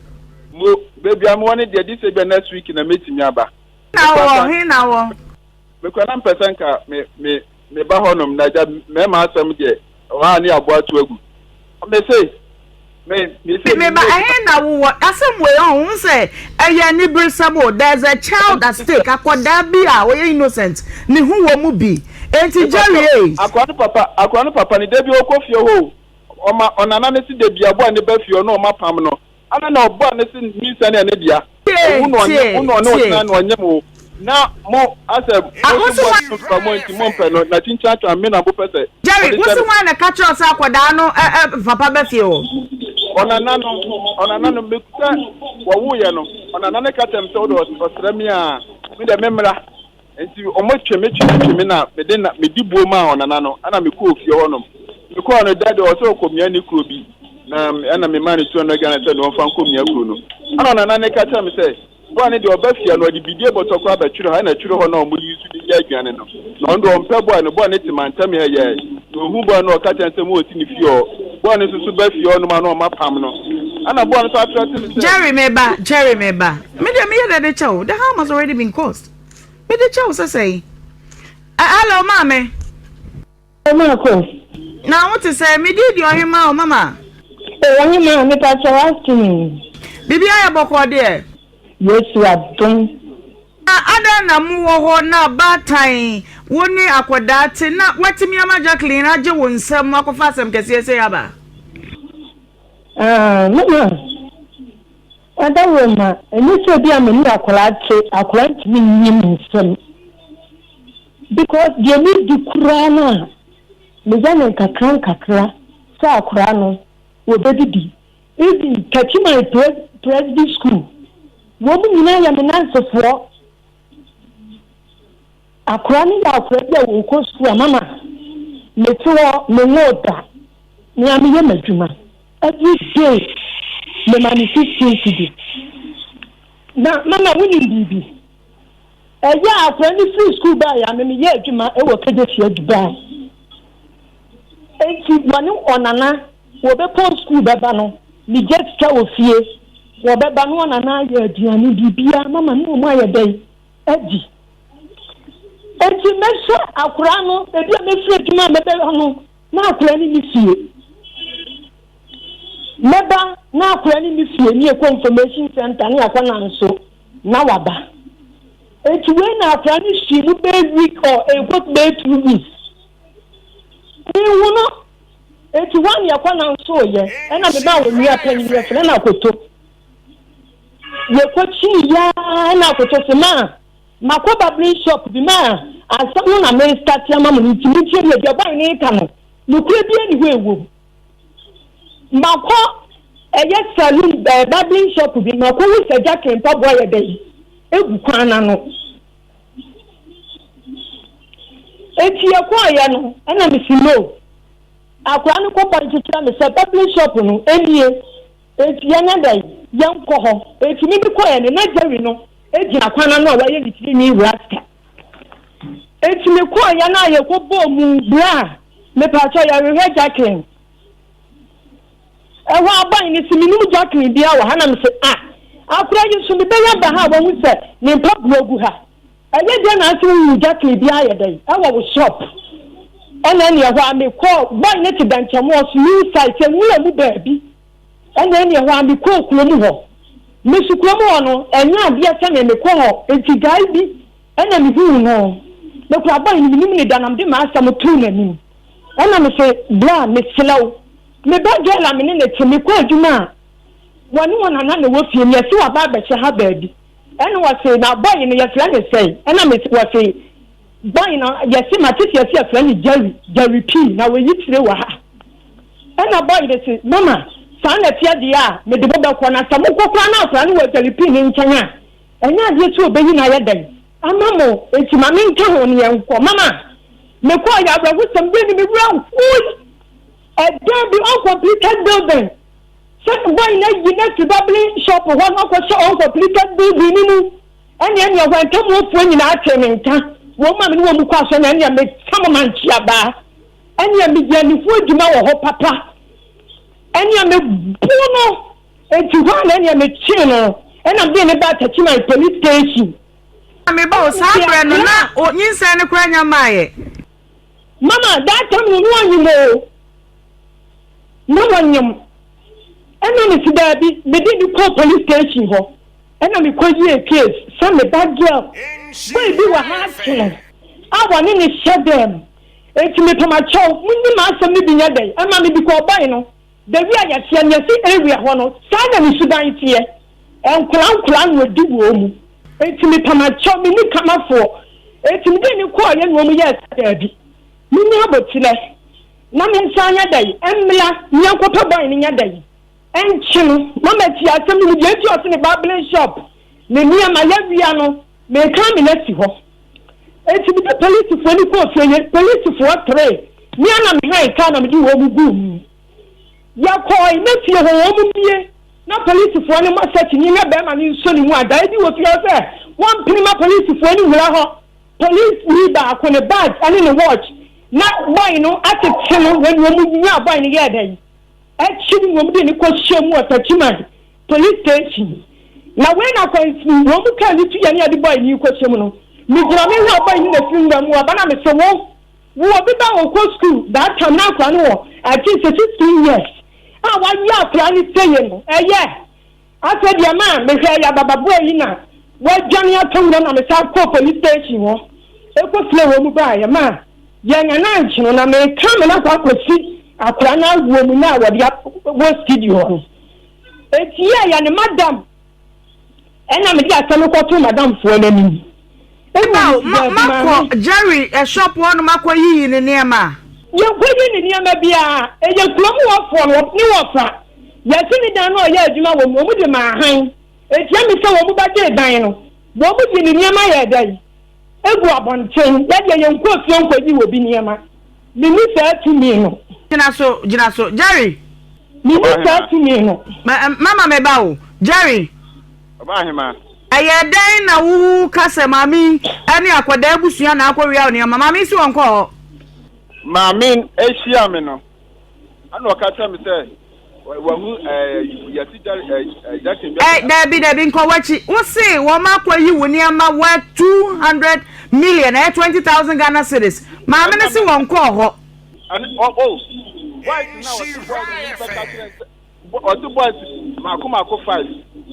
Mo, baabi a mowɔ no deɛ, gye sɛ ebia next week na mɛtumi aba. He na ɔwɔ? He na ɔwɔ? Mekura na mpɛ sɛ nka me, me. Me ba hɔnom na gya mɛma asɛm deɛ ɛwɔ ha ne aboa to agu. Me se, me, me se me ba ɛhe na wo wɔ? Asɛm wei ɔn, wohu sɛ ɛyɛ aniberesɛm o, there is a child at stake, akwadaa bi a ɔyɛ innocent, ne ho wɔ mu bi. Enti Jerry ei. Akwadaa no papa, akwadaa no papa no, da bi ɔkɔ fie hɔ o, ɔma ɔnana no se da bi aboa no ba fie ɔne wɔn apam no, Ana na ɔbɔɔ ne se nyinsɛn yɛ ne dea? Owu na ɔnye wo na ɔne wo tena na ɔnyem wo. Na mo, asɛ moso bɔne no mfra mo nti mompɛ no, na kyinkyin atwa me na mopɛ sɛ Jerry, mode wo hyɛ se me. hwan na ɛka kyerɛ wo sɛ akwadaa no papa ba fie hɔ? Ɔnana no, ɔnana no, me sɛ wɔwoeɛ no, ɔnana no ka kyerɛɛ me sɛ wode ɔsrɛ me a, me deɛ memmra. Enti wɔtwe me twe me twe me na mede na medi buo maa ɔnana no ɛna mekɔɔ ofie hɔnom. Mekɔɔ no da deɛ ɔsɛ ɔkɔmia ne kuro bi na ɛna memaa no 200 Ghana sɛ na ɔmfa nkɔmia kuro no. Ɛna ɔnana no ka kyerɛ me sɛ boa no deɛ ɔba fie no ɔde bidie bɔtɔ koraa bɛtwere hɔ ɛna twere hɔ na wɔyi nso de yɛ aduane no na ɔno deɛ ɔmpɛ boa no boa no te mantam ha yɛ na ɔhu boa no ɔka kyerɛ sɛ mo ɔsi ne fie hɔ boa no nso so ba fie hɔnom a na ɔma pam no ɛna boa no nso atrɛ te me sɛ. Jerry meba Jerry meba me deɛ meyɛ dɛ de kyɛ wo the harm has already been caused. Mede kyɛ wo sɛsɛe. Ɛ hello maame. O ma ko. Na wo te sɛn? Me di di ɔhemaa o mama. O ɔhemaa me pa kyɛ wa se me. Bibi ayɛ bɔkɔɔ deɛ. Yesu adom. Na adɛn na mo wɔ hɔ na baatan wo ne akɔdaa te na watimi ama Jacqueline agye wo nsam akɔfa asɛm kɛseɛ sei aba? Aah mama. Adaworoma, ɛnyɛ sɛ ebi a me ne akwadaa te, akwadaa ntumi nyi me nsam because deɛ me di koraa no a me yɛ no nkakra nkakra sɛ akwadaa no wɔ bɛ didi even Kachiman presby school wɔn nyinaa yɛ me nansefoɔ. Akora no yɛ akora bi a ɔkɔ sukuu a mama mete hɔ menwoo da me a meyɛ m'adwuma everyday mema no fifteen cedi na mama wonim biribi ɛyɛ akora no firi sukuu baeɛ a me meyɛ adwuma wɔ kagya fie Dubai enti wɔne ɔnana Wɔbɛpɔn sukuu bɛba no, megya sika wɔ fie, wɔbɛba na wɔn anan ayɛ aduane, biribiara, mama ne wɔn ayɛ dɛn? Adi. Enti mɛhwɛ akwadaa no, ebi a mɛfiri adwuma a mɛbɛba no, na akwadaa no nni fie. Mɛba na akwadaa no nni fie, ne yɛkɔ information center, ne yɛakɔ nanso, na waba. Enti wei na akwadaa no hyii mu bɛyɛ week or ɛkɔ bɛyɛ two weeks. Mehu no. Enti hɔ a na yɛkɔ nanso yɛ na me ba onua panyin bi yɛfrɛ no Akoto. Yɛkɔ kyii yɛ a na Akoto se ma makɔ barbering shop bi ma ansa no na me start ama mo no nti mo ntie me deɛ guy no reka no nokorɛ bi ani hɔ ɛwom. Makɔ ɛyɛ saloon ɛɛ barbering shop bi makɔ hu sɛ Jacqueline mpaboa yɛ dɛ yi egu kwan no ano. Enti yɛkɔeɛ no na mese no, akwadaa no kɔ point kyerɛ me sɛ barbering shop no nie, enti yɛnyɛ dɛn yɛnkɔ hɔ. Enti me mekɔeɛ no na Jerry no gyina kwan ano a wayɛ ne tiri nwi rasta. Enti mekɔeɛ no a yɛkɔbɔɔ mu bra a, mepaakyɛw yɛrehwɛ Jacqueline. Ɛhɔ ara bae no se, Minnim Jacqueline biara wɔ ha. Na mise, Ah, akora yi nso, mebɛyɛ aba ha a wahu sɛ ne mpaboa gu ha. Ɛyɛ dɛn na ase wunhu Jacqueline biara? Ayɛ dɛn wɔ wo shop? Ɛnna ɛne ɛhɔ ara mekɔɔ. Boy no te Dankyɛmoɔ so, New Site, nwura mu baabi. Ɛnna ɛne ɛhɔ ara mekɔɔ kurom hɔ. Mesu kurom hɔ no, ɛnyɛ adeɛ sɛnea mekɔ hɔ. Enti guy bi Ɛnna mihuu no, na okura bɔn, emi minim ne da, na mede m'asɛm too n'anim. Ɛnna mise, Bra, mesrɛ wo. Me ba Joel a me ne no te, mekɔɔ adwuma a wɔne wɔn nana na ɛwɔ fie no, yɛse waba abɛhyɛ ha baabi. Ɛnna wɔse, Na bɔn no, yɛfrɛ no sɛn? Ɛnna mise, Wɔse, Bɔn no, yɛse mate sɛ yɛse yɛfrɛ no Jerry, Jerry P. Na wayi tire wɔ ha. Ɛnna bɔn no se, Mama, saa na ɛteɛ deɛ a, mede mo bɛkɔ, na sɛ mokɔ koraa na akwadaa no wɔ Jerry P. no nkyɛn a, Ɛnyɛ adeɛ ti ɔbɛyi no ayɛ dɛn ama mo nti ma me nka ho ne yɛn nkɔ. Mama me kɔ ɔyɛ awerɛhosɛm deɛ ne me werɛ hooi ɛdan bi uncompleted building sɛ boy no ayi no afiri babling shop hɔ na ɔkɔ hyɛ uncompleted building no mu ɛne ɛne ɛhɔ ɛntamuofoɔ nyinaa tee me nka wɔn ma me ne wɔn mu kɔ asɔ na ɛne me tam ma nkyeabaa ɛne me yɛ anifoɔ adwuma wɔ hɔ papa ɛne me bu no Enti hɔ ara na ɛnneɛ mekyee no na mede no baa Tachiman Police Station. Na meba o, saa berɛ no na o nyinsɛn no koraa nnya mmaeɛ. Mama, that time no na ɔnyem o, na ɔnyem. Ɛnna mese daabi, mede no kɔɔ Police Station hɔ, ɛnna mekɔyie case sɛ me ba girl boy bi wɔ ha ate no a wɔne no hyɛ dɛm. Enti mepamakyɛw, monyi m'asɛm no bi nyɛ dɛn, ɛma mede kɔɔ boy no. Baabi a yɛteɛ no, yɛse area hɔ no, saa na ne suban teɛ. Nkwadaa nkwadaa na ɔdi wɔn mu. Enti mepam akyɛw, menni kamafoɔ. Enti mede ani kɔeɛ na wɔn yɛɛ sɛ daabi. Menya aboterɛ na mensan nyɛ dɛn, mmra na yɛnkɔpɛ boy no nyɛ dɛn. Ɛnkye no, na mate asɛm no mu deɛ enti a ɔse ne barbling shop, ne nneɛma, yɛawia no, mekan me no asi hɔ. Enti mede polisifo ani kɔɔ fie yi, polisifo ɔtere, me ara na mehan kaa na mede wɔn guu mu. Yɛkɔe, na fie hɔ wɔn mmue, na polisifo anim asɛ kyinii na barima no nsɔ ne mu adae bi wɔ fie hɔ sɛ wɔmpene ma polisifo ani nwura hɔ. Polisini baako, ne badge ne ne watch, na boy no atete no, na nea wɔnyaa boy no yɛɛ dɛn? Akyiri no wɔde no kɔhyɛɛ mu wɔ Takyiman. Police station na wei na akwansin wɔn mu kaa ne tu yɛ ne yɛde bɔe ne kɔhyɛ mu no me gyina me hwɛ ɔbɔe ne na firi nwura mu aba na me se wo wo obi ba a ɔkɔ school that time na akora no wɔ I think sɛ sixteen years a wayi akora ne seye no ɛyɛ asɛ deɛ ma a me hwɛ yababa boa yi na wadwane atɔ nwura na me sa kɔ police station hɔ ɛkɔ fire wɔn mu ba yɛ ma yɛ nya na nkye no na me ka me na kɔ akɔsi akora no awoɔ mu na wɔde wɔ studio no Ekyia yɛ ne madam ɛna mede asɛm no kɔto madamfoɔ no anim. Aw, ma makɔ Jerry shop hɔ nom akɔ yiyi ne nneɛma a. Yɛnkɔ yi ne nneɛma biara, ɛyɛ kurom hɔfoɔ no ne wɔfa. Yɛse ne dan no a ɔyɛ adwuma wɔ mu no, wɔn de maa hann. Ekyia me sɛ wɔn bɛgyee dan no, wɔn de ne nneɛma yɛɛ dɛn? Egu abɔnten. Yɛdeɛ yɛnkɔ fie nkɔyi obi nneɛma. Mini saa tumi no. Gyina so, gyina so, Jerry. Mini saa tumi no. Mama me ba o, Jerry. Ọba ahema. Ɛyɛ dɛn na wo ka sɛ maame yi ne akwadaa abusua na akɔwia wo nneɛma? Maame yi si wɔn kɔɔ hɔ. Maame ahyia me no, ɛna ɔka kyerɛ me sɛ. Dabi dabi nkɔ wakyi wose wɔn akɔ yi wo nneɛma wɔ two hundred million ɛyɛ twenty thousand Ghana cedis maame no se wɔn kɔɔ hɔ. ɔte boys mako mako five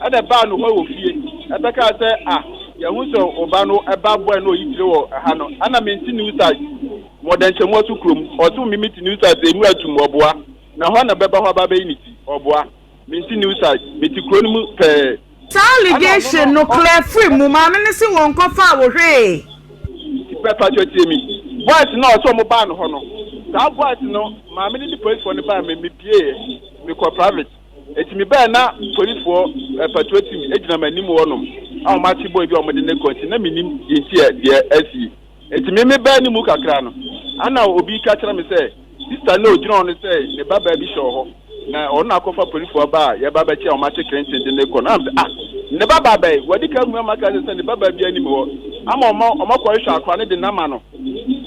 ɛna ɛbaa no hɔ wɔ fie ɛbɛka sɛ ah yɛhu sɛ ɔba no ɛba boy no ɔyi tire wɔ ɛha no ɛna mente new site mɔdɛnkyɛmu aso kurom ɔte wo mimi te new site ɛmu atum ɔboa Na hɔ na bɛba hɔ aba abɛyi ne ti. Ɔboa. Me nso New Side. Mete kuro no mu pɛɛ. Saa allegation no clear firi mu. Maame no se wɔn nkɔ faa wo hwee. Tipɛ pakyɛ tie me. Boys no a ɔse ɔmo baa ne hɔ no. Saa boys no maame no ne policefoɔ no baa me me pieeɛ me kɔɔ private. Enti me baaɛ na policefoɔ, eh, patrol team gyina m'anim hɔ nom a ɔmo ate boy bi a ɔmo de no rekɔ nti na me nim deɛ nti a deɛ asie. Enti me mebaa ne mu kakra no, ana obi reka akyerɛ me sɛ sista no a ogyina hɔ no sɛ ne babaa bi hyɛ wɔ hɔ, na ɔno na akɔfa polifo aba a yɛba abɛkyɛ a wɔate krenten de no rekɔ no. Ana me sɛ, Ah, ne babaa bɛn? Wɔadi kan ahu ama aka akyerɛ sɛ ne babaa biara nni me hɔ, ama wɔma wɔakɔhwehwɛ akora no de no ama no.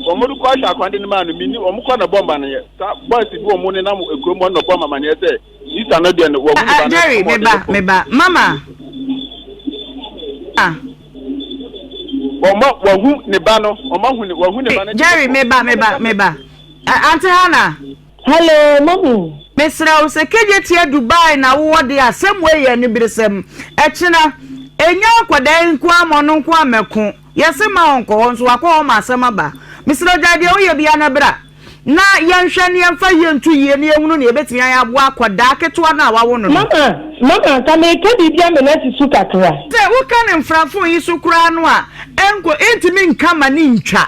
Wɔrekɔ ahwɛ akora no de no maa no, minni, wɔkɔ na ɛbɔ amanneɛ. Saa boys bi a wɔnenam kurom hɔ no na wɔbɔɔ me amanneɛ sɛ sista no deɛ no, wɔahu ne ba no, ama wɔde no rekɔ. Jerry, me ba, me ba, mama. wɔma wahu ne ba no wɔma hu ne wahu ne ba no. jerry meba meba meba ante hana. hello mami. mesrɛ wo sɛ kegye teɛ dubai na wowɔ de asɛm wei yɛ ne beresɛm ɛkyena ɛnya nkɔdaa yi nko ama ɔno nko amɛko yɛse ma ɔnkɔ hɔ nso wakɔ hɔ ma asɛm aba mesrɛ gyae deɛ woyɛ bia na bra na yɛnhwɛ na yɛmfa yie nto yie na yɛhunu nea ɛbɛtumi ayɛ aboa akwadaa ketewa no a wawo no no. Mama, mama, nka mereka biribi ama no asi so kakra. Sɛ woka no mfrafon yi so koraa no a, ɛnko, ɛntumi nka ma no ntwa.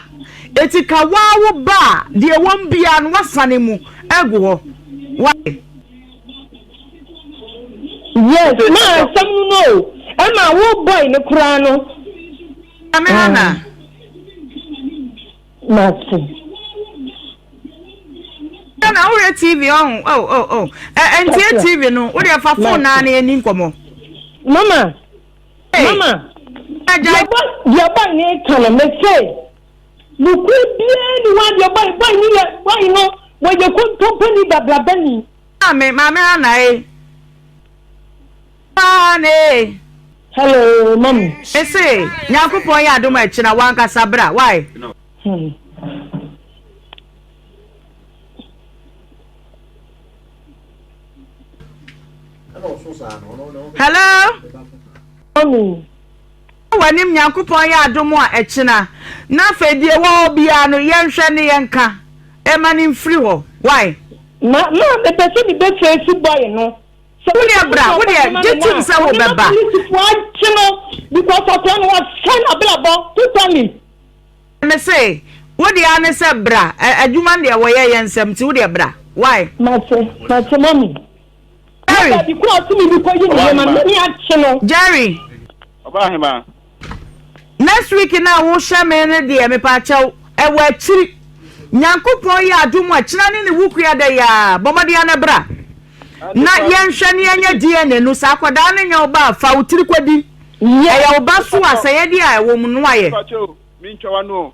Enti ka woaa wo ba a, deɛ ɛwɔ mu biara no, woasane mu agu hɔ. Wate? Yes, ma asɛm no no o. Ɛma wo boy no koraa no. Maame Hannah. Mate. Ɛna na wohwɛ TV ɔho oh oh oh ɛ ɛntie TV no wo deɛ fa phone naa na yɛni nkɔmɔ. Mama mama deɛ bɔ deɛ bɔ ne ka no me se nukuri biara ni wa deɛ bɔ bɔ ne yɛ bɔ no wɔyɛ kontompo ni babraba ni. Maame maame ha na ye. Aane ee. Hello mami. Me se Nyankopɔn yɛ adom a ɛkyena wankasa bra wai. Hmm. Hello. Mami. Wanim Nyankopɔn yɛ adom a ɛkyena na afei die wɔ hɔ biara no yɛnhwɛ ne yɛnka ɛma ne mfiri hɔ wai. Ma ma mepɛ sɛ mebɛfɛ si bɔe no. So wo deɛ bra wo deɛ gye tim sɛ wo bɛ ba. Polisifoɔ agye no because akwadaa no wasɛe n'abrabɔ totally. Me se wo deɛ ara ne sɛ bra adwuma no deɛ wɔyɛ yɛ nsɛm nti wo deɛ bra why. Mate mate mummy. Jerry. Jerry. Ɔbaa hemaa? Next week no a wohyɛ me no deɛ mepaakyɛw ɛwɔ akyiri Nyankopɔn yɛ adom a kyena ne ne wukua da yi aa bɔ mmɔden ara na bra na yɛnhwɛ ne yɛnyɛ DNA no saa akwadaa no nyɛ wo ba a fa wo tiri kɔdi ɛyɛ wo ba so a sɛ yɛde a ɛwɔ mu no ayɛ. Mpakyɛw mintwa w'ano o.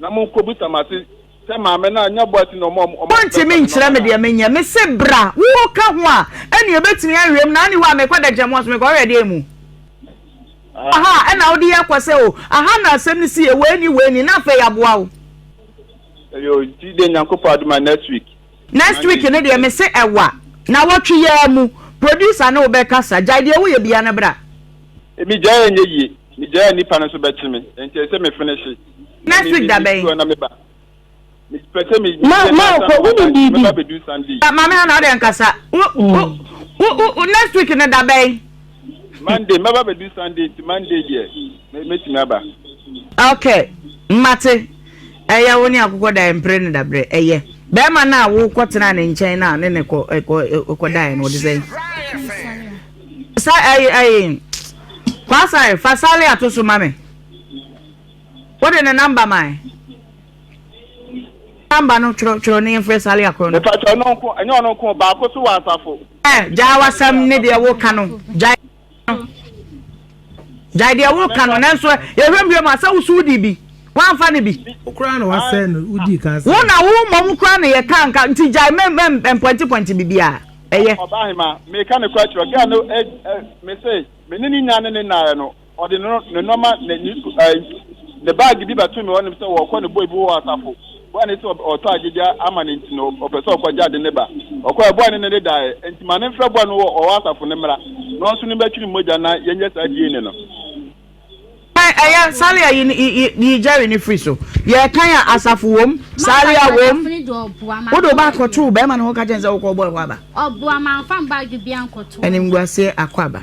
Na mo nko bisa mase sɛ maame no anya boa ti na ɔma ɔmo ɔmo bɛsa Wontumi ne nkyerɛ mama me no a. deɛ menyɛ. Mese bra, wo ka ho a, ɛnneɛ ɛbɛtumi ahwɛ mu, na anni hɔ a mekɔ Dɛkyɛm House, mekɔhwɛ deɛ mu wɔ ha a, Aha. ɛnna wode akɔ sɛ o, aha na asɛm no si yɛ, wei ni, wei ni, na afei aboa wo. Ɛyoo, nti deɛ Nyankopɔn adom a, next week Next Monday week no deɛ, Tuesday. mese ɛwa, nawɔtwe yi ara mu, producer ne wo bɛkasa, gyae deɛ woyɛ biara na bra. Megyae a ɛnyɛ yie, megyae a nnipa no nso bɛkye me, enti ɛsɛ me fenehyee. na se da bɛn. ma ma kɔ wo ni bibi. maame hana ɔdɛ nkasa wo wo wo wo next week ne da bɛn. monday mɛba bɛdu sunday nti monday deɛ mɛtumi aba. ok mmate ɛyɛ wo ne akokɔ da mpere ne dabrɛ ɛyɛ bɛrima no a wokɔ tena ne nkyɛn no a ne ne kɔ kɔ kɔ daeɛ no wɔde sɛn. sa ɛyɛ ɛyɛ kwasae fa sale ato so ma me. Wode ne number mae? Number no twerɛ twerɛ ne yɛmfrɛ saa lia korɔ no. Mepakyɛ ɔno nko ɛnyɛ ɔno nko baako so wɔ asafo. Ɛ gyaa wasɛm ne deɛ woka no gyae no gyae deɛ woka no nanso yɛhwɛ mbie mu asɛ woso wodi bi woamfa no bi. Wokora na wasɛn no wodi ka sɛ. Wo na wo mmom kora na yɛka nka nti gyae mpɔntepɔnte biribiara ɛyɛ. Ɔbaa hema meka ne kora kyerɛ gɛɛ no mese me ne ne nya ne ne naeɛ no. Ɔde ne ne nnoɔma ne ne su ɛɛ ne baagi bi bɛto me hɔ nom sɛ ɔrekɔ ne boy bi wɔ asafo. Boy ne sɛ ɔtɔ agyegya ama ne nti no ɔpɛ sɛ ɔkɔgye ade ne ba. Ɔkɔɛ boy ne ne ne daeɛ nti ma ne mfrɛ boy no wɔ ɔwɔ asafo ne mmra na ɔno nso ne mmɛtwe ne mogya na yɛnyɛ saa DNA no. Ɛɛ ɛyɛ Salia yi yi yi yi Jerry no firi so. Yɛrekan a asafo wɔ mu, Salia wɔ mu. Wode wo ba akɔto barima no hɔ ka kyerɛ no sɛ wokɔ wo boy hɔ aba. Animguaseɛ akɔ aba.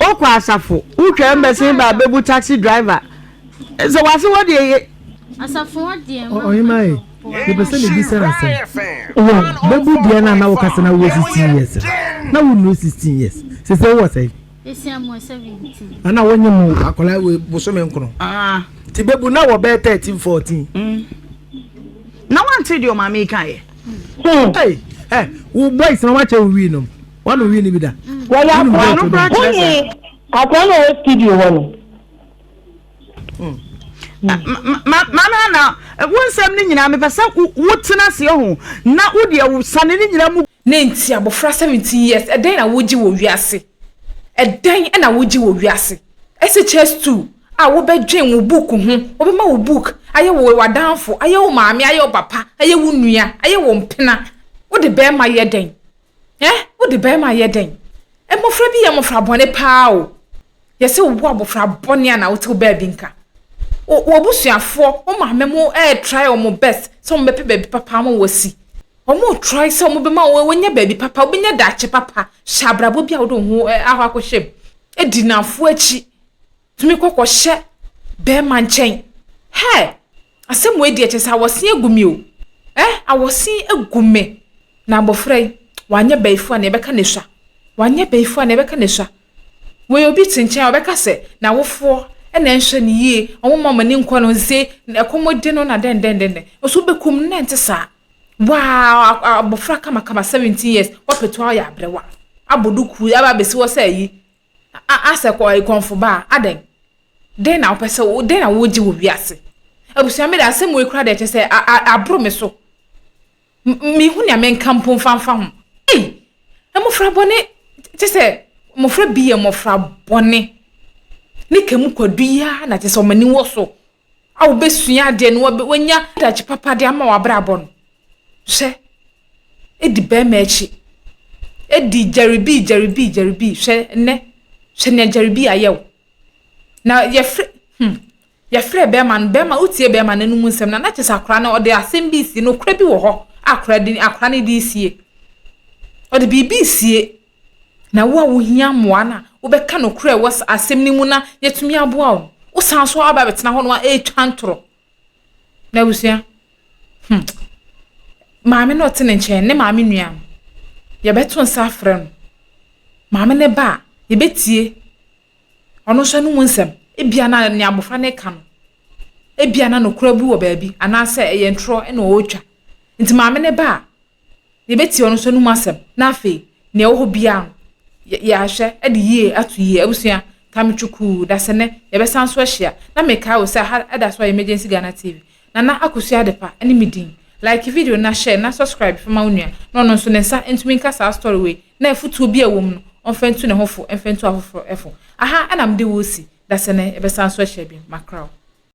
Wokɔ asafo, wotwam bɛsen ba bɛbu taxi driver sɛ wase hɔ deɛ ye. Asafo hɔ deɛ ma Ɔhema e, mepɛ sɛ mebisa asɛm. Wɔ bɛbu deɛ no a na woka sɛ na wowɔ 16 years no, na wonnuru 16 years, sesei wowɔ sɛn? Esia mewɔ 17. Ana wonye mo akwadaa wɔ bosome nkron? Nti bɛbu na wɔ bɛyɛ 13, 14. Na wante deɛ ɔmaame yi kaeɛ. Hey, eh, wo boys na wakyɛ wo wii nom. Wano wii ni bi da. Wɔyɛ akɔa no bra kyerɛ sɛ. Akɔa no wɔ studio hɔ no. Mm. Mama na wo nsɛm no nyinaa mepɛ sɛ wotena ase ho na wodeɛ wo sane no nyinaa mu. Ne nti abɔfra 17 years ɛdɛn na wogye wɔ wiase? Ɛdɛn na wogye wɔ wiase? SHS2 a wobɛdwen wo book ho, wobɛma wo book ayɛ wo w'adamfo, ayɛ wo maame, ayɛ wo papa, ayɛ wo nua, ayɛ wo mpena. Wode bɛrima yɛ dɛn? Eh, wode bɛrima yɛ dɛn? Mmofra bi yɛ mmofra bɔne paa o. Yɛsɛ wobu abofra bɔne a na wote wo baabi nka. W'abusuafoɔ, wo maame mo ɛɛtrae wɔn best sɛ wɔbɛpɛ baabi papa ama wɔasi. Wɔretrae sɛ wɔbɛma wɔanya baabi papa, wɔbɛnya daakye papa. Hyɛ abrabɔ bi a wode wo ho akɔ akɔhyɛ mu. Di nnamfo akyi. Tumi kɔ kɔhyɛ bɛrima nkyɛn. Hɛ! Asɛm wei deɛ kyɛ sɛ awɔsen agu me o. Ɛ, awɔsen agu me. Na abɔfra yi, wanyɛ bɛyifo a nea ɛbɛka na esua. Wanyɛ bɛyifo a nea ɛbɛka na esua. Wei obi te nkyɛn a ɔbɛka sɛ n'awofoɔ na ɛnhwɛ no yie, wɔmma wɔn ani nkɔ no, nse, ɛkɔm de no na dɛndɛndɛndɛn. Nso wobɛkum no na ɛnte saa. Wow! Abofra kamakama, 17 years, wapɛtu ayɛ aberewa. Abɔ duku, aba abɛsi hɔ sɛ ayi. Asɛ kɔ ayi kɔnfo baa, adɛn? Dɛn na wopɛ sɛ, dɛn na wogye wɔ wiase? Abusua me de asɛm wei kura deɛ kyɛ sɛ aboro me so. Mehu nea menka mpo mfanfa ho. Ei! Mmofra bɔne, kyɛ sɛ mmofra bi yɛ mmofra bɔne. Ne ka mu kwadu yi ara na kyɛ sɛ wɔn ani wɔ so. a wobɛsua adeɛ no wanya adagye papa de ama w'abrabɔ no hwɛ ɛdi bɛrima akyi ɛdi gyaribii gyaribii gyaribii hwɛ nnɛ hwɛ nea gyaribii ayɛ wo na yɛfrɛ hmm yɛfrɛ bɛrima no bɛrima wotie bɛrima no anum nsɛm na na kyɛ sɛ akora no ɔde asɛm bi sie no kora bi wɔ hɔ akora de akora no de sie ɔde biribi sie Na wo a wohia mmoa no a, wobɛka nokorɛ a ɛwɔ asɛm no mu na yɛatumi aboa wo no, wosan so aba abɛtena hɔnom a ɛretwa ntorɔ. Na abusua, hmm, maame no a ɔte ne nkyɛn, ne maame nua no, yɛbɛto nsa afrɛ no. Maame no ba a, yɛbɛtie ɔno nso anom nsɛm. Ebia na nea abɔfra no reka no, ebia na nokorɛ bi wɔ baabi, anaasɛ ɛyɛ ntorɔ na ɔretwa. Nti maame no ba a, yɛbɛtie ɔno nso anom asɛm na afei nea ɛwɔ hɔ biara no, yɛahwɛ de yie ato yie. Abusua, Tami Chukwu, dasene, yɛbɛsan so ahyia. Na mekae wo sɛ aha ɛda so a Emergency Ghana TV. Nana Akosua Adepa ne me din. Like video na share na subscribe fa ma wo nua na ɔno nso ne nsa ntumi nka saa story wei na afutuo bi a ɛwɔ mu no ɔmfa ntu ne ho fo mfa ntu afoforo fo. Aha na mede wo resi. Dasene, yɛbɛsan so ahyia bio. Makraw.